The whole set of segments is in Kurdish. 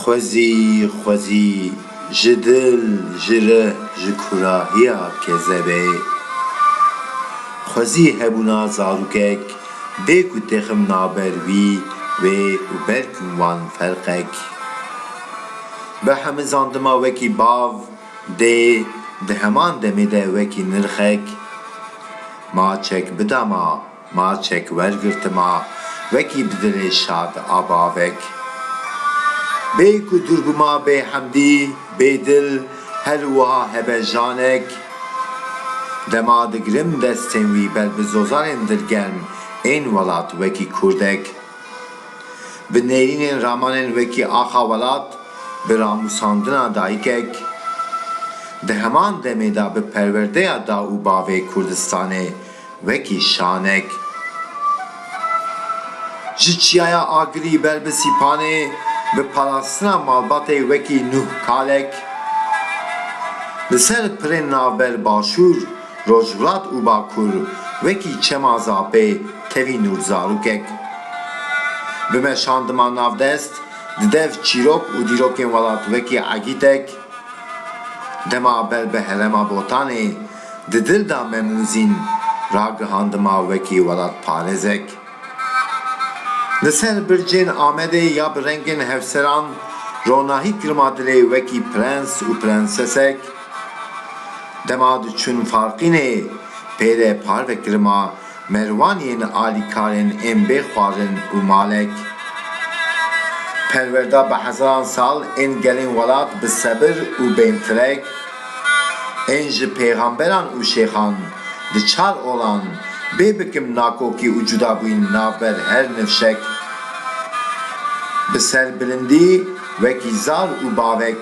Xwezî, xwezî, ji dil, ji rih, ji kurahiya kezebê. Xwezî hebûna zarokek bê ku texim naber wî, wê û ber kin wan ferqek. Bi hemizandima wekî bav, dê, di heman demê de wekî nirxek, maçek bida ma. Marçek wergirtima wekî bi dilê şad a bavek. Bê ku dûrbima bê hemdî, bê dil, her û wiha hebe janek. Dema digirim destên wî ber bi zozanên dilgerm ên welat wekî kurdek. Bi nêrînên ramanên wekî axa welat, bi ramûsandina dayikek. Di heman demê de bi perwerdeya da û bavê Kurdistanê. Wekî şanek ji Çiyaya Agirî ber bi Sîpanê bi parastina malbatê wekî Nuh Kalek li ser pirên navber Başûr, Rojhilat û Bakur wekî Çema Zapê tevî Nur Zarokek. Bi meşan dima navdest di dev çîrok û dîrokên welat wekî Egîtek, dema ber bi herema Botanê, Di dil de me Mûzîn ragihandima wekî welatparêzek. Li ser bircên Amedê ya bi rengên hevseran ronahî kirima dilê wekî prens û prensesek. Dema diçûn Farqînê pêre parve kirima Merwan yên alîkarên ên bê xwarin û malek perwer da bi hezaran sal ên gelên welat bi sebir û bên firek ên ji pêxamberan û şêxan di çar olan bê bikim nakokî û cudabûyîn navber her nifşek bi serbilindî Wekî zal û bavek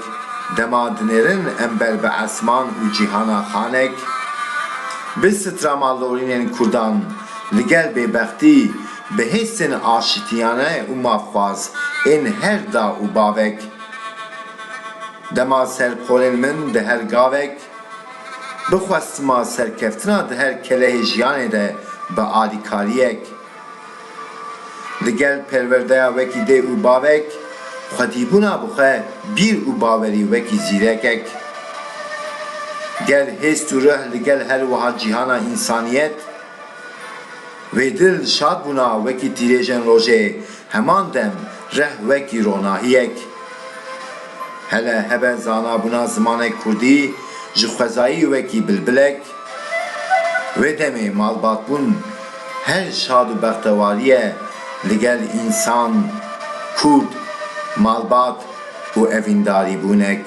dema dinêrin ember bi esman û cîhana xanek, bi strama lorînên kurdan li gel bêbextî, bi hêsên aşitiyane û mafxwaz ên her da û bavek. Dema ser polên min di her gavek, bi xwestima serkeftina di her kelehê jiyanê de bi alîkariyek. Li gel perwerdeya wekî dê û bavek, xwedîbûna bi xwe, bîr û bawerî wekî zîrekek. Ger hêst û rih li gel her wiha cîhana însaniyet, wê dil şad bûna wekî tîrêjên rojê Heman dem reh wekî ronahiyek hele hebe zanabûna zimanê kurdî ji xwezayî wekî bilbilek wê demê malbatbûn her şad û bextewarî ye li gel însan, kurd, malbat û evîndarîbûnek.